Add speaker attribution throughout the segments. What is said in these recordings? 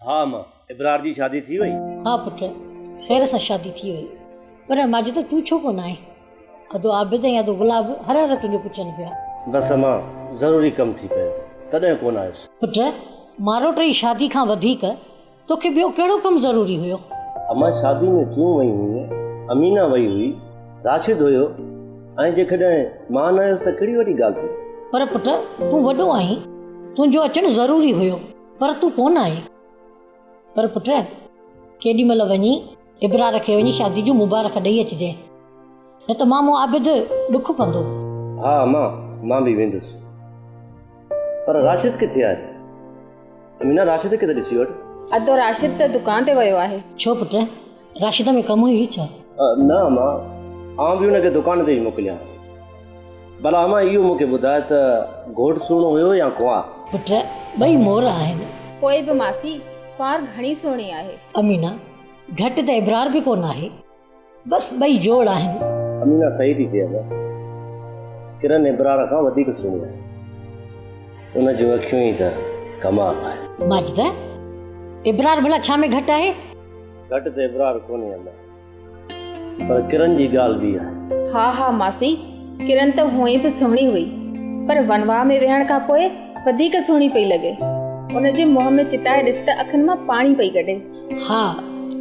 Speaker 1: ها اما، ابرار جي شادي ٿي وئي؟ ها پٽ،
Speaker 2: خير سان شادي ٿي وئي. پر ماجده تون ڇو ڪونه آئين؟ ادو عابد ۽ ادو گلاب هر هر تنهنجو پڇن پيا. بس اما،
Speaker 1: ضروري ڪم ٿي پيو تڏهن ڪونه آيس. پٽ،
Speaker 2: ماروٽ جي شادي کان وڌيڪ توکي ٻيو ڪهڙو ڪم ضروري هيو؟ اما، شادي
Speaker 1: ۾ تون وئي هئين، امينه وئي هئي، راشد هيو ۽ جيڪڏهن مان نه هيس ته ڪهڙي وڏي ڳالهه ٿي؟ پر پٽ، تون
Speaker 2: وڏو آهين، تنهنجو اچڻ ضروري هيو. پر تون ڪونه آهين. پر پٽ! ڪيڏي مهل وڃي ابرار کي وڃي شادي جون مبارڪ ڏئي اچجانء، نه ته مامو عابد ڏک ڪندو. ها امان،
Speaker 1: مان به ويندس. پر راشد ڪٿي آهي؟ امينه، راشد کي ته ڏسي وٺ. ادو، راشد ته
Speaker 3: دڪان تي ويو آهي. ڇو پٽ؟
Speaker 2: راشده ۾ ڪم هئي ڇا؟ نه اما،
Speaker 1: آئون به هن کي دڪان تي ئي موڪليان. ڀلا اما اهو مون کي ٻڌاء ته گهوٽ سهڻو هيو يا ڪنوار؟ پٽ، ٻئي
Speaker 2: مور آهن. پوء به ماسي،
Speaker 3: ڪنوار گهڻي سهڻي آهي. امينه،
Speaker 2: گهٽ ته ابرار به ڪونه آهي. بس ٻئي جوڙ آهن. امينه، صحيح ٿي
Speaker 1: چئي اما. ڪرن ابرار کان وڌيڪ سهڻي آهي. ان جون اکيون ئي ته ڪمال آهن. ماجده،
Speaker 2: ابرار ڀلا ڇا ۾ گهٽ آهي؟ گهٽ تي ابرار
Speaker 1: ڪونهي اما. پر ڪرن جي ڳالهه ٻي آهي. ها ها ماسي
Speaker 3: ڪرن ته هونئن به سهڻي هئي پر ونواهه ۾ ويهڻ کان پوء وڌيڪ سهڻي پئي لڳي. ان جي منهن ۾ چتائي ڏس ته اکين مان پاڻي پئي ڪڍي. ها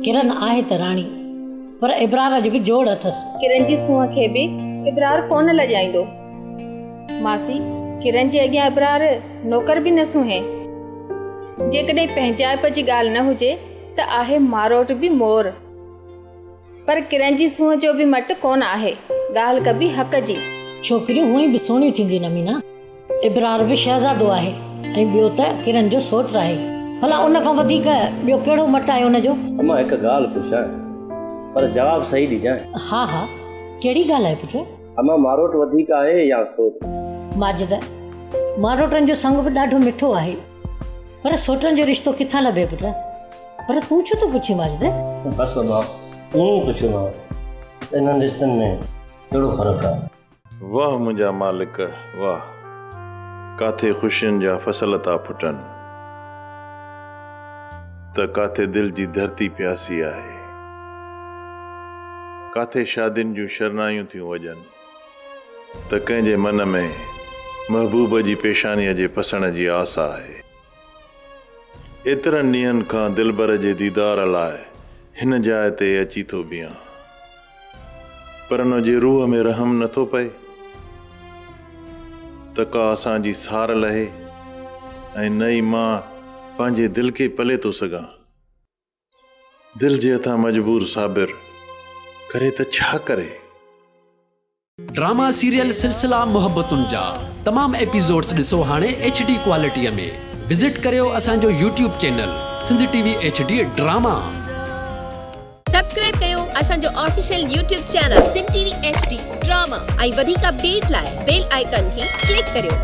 Speaker 2: ڪرن آهي ته راڻي پر ابرار اڄ به جوڙ اٿس. ڪرن جي سونهن کي به
Speaker 3: ابرار ڪونه لڄائيندو. ماسي ڪرن جي اڳيان ابرار نوڪر به نه سونهي. جيڪڏهن پنهنجائپ جي ڳالهه نه هجي ته آهي ماروٽ به مور، پر ڪرن جي سونهن جو به مٽ ڪونه آهي، ڳالهه ڪبي حق جي. ڇوڪريون هونئن به
Speaker 2: سهڻيون ٿينديون آهن امينا، ابرار به شهزادو آهي ۽ ٻيو ته ڪرن جو سوٽ آهي، ڀلا ان کان وڌيڪ ٻيو ڪهڙو مٽ آهي ان جو؟ امان هڪ ڳالهه
Speaker 1: پڇان پر جواب صحيح ڏجانء. ها ها
Speaker 2: ڪهڙي ڳالهه آهي پٽ؟ امان ماروٽ وڌيڪ
Speaker 1: آهي يا سوٽ؟ ماجده،
Speaker 2: ماروٽن جو سنگ به ڏاڍو مٺو آهي. پر سوٽن جو رشتو ڪٿان لڀي پٽ پر تون ڇو ٿو پڇين ماجد بس ابا
Speaker 1: ائين ئي پڇيو مان انهن رشتن ۾ ڪهڙو فرق آهي واھ منهنجا
Speaker 4: مالڪ واھ ڪاٿي خوشين جا فصل ٿا ڦٽن ته ڪاٿي دل جي ڌرتي پياسي آهي ڪاٿي شادين جون شرنايون ٿيون وڄن. ته ڪنهن جي من ۾ محبوب جي پيشانيء جي پسڻ جي آس آهي. ايترن ڏينهن کان دلبر جي ديدار لاء هن جاء تي اچي ٿو بيهان، پر ان جي روح ۾ رحم نه ٿو پئي ته ڪا اسان جي سار لهي ۽ نه ئي مان پنهنجي دل کي پلي ٿو سگهان. دل جي هٿان مجبور صابر ڪري ته ڇا ڪري.
Speaker 5: ڊراما سيريل سلسلا محبتن جا تمام ايپيسوڊس ڏسو هاڻي ايڇ ڊي ڪوالٽيء ۾ وزٽ ڪريو اسان جو YouTube channel Sindh T V H D drama.
Speaker 6: Subscribe ڪيو اسان جو official YouTube channel Sindh T V H D drama ۽ وڌيڪ اپڊيٽ لاء بيل آئيڪان کي ڪلڪ ڪريو.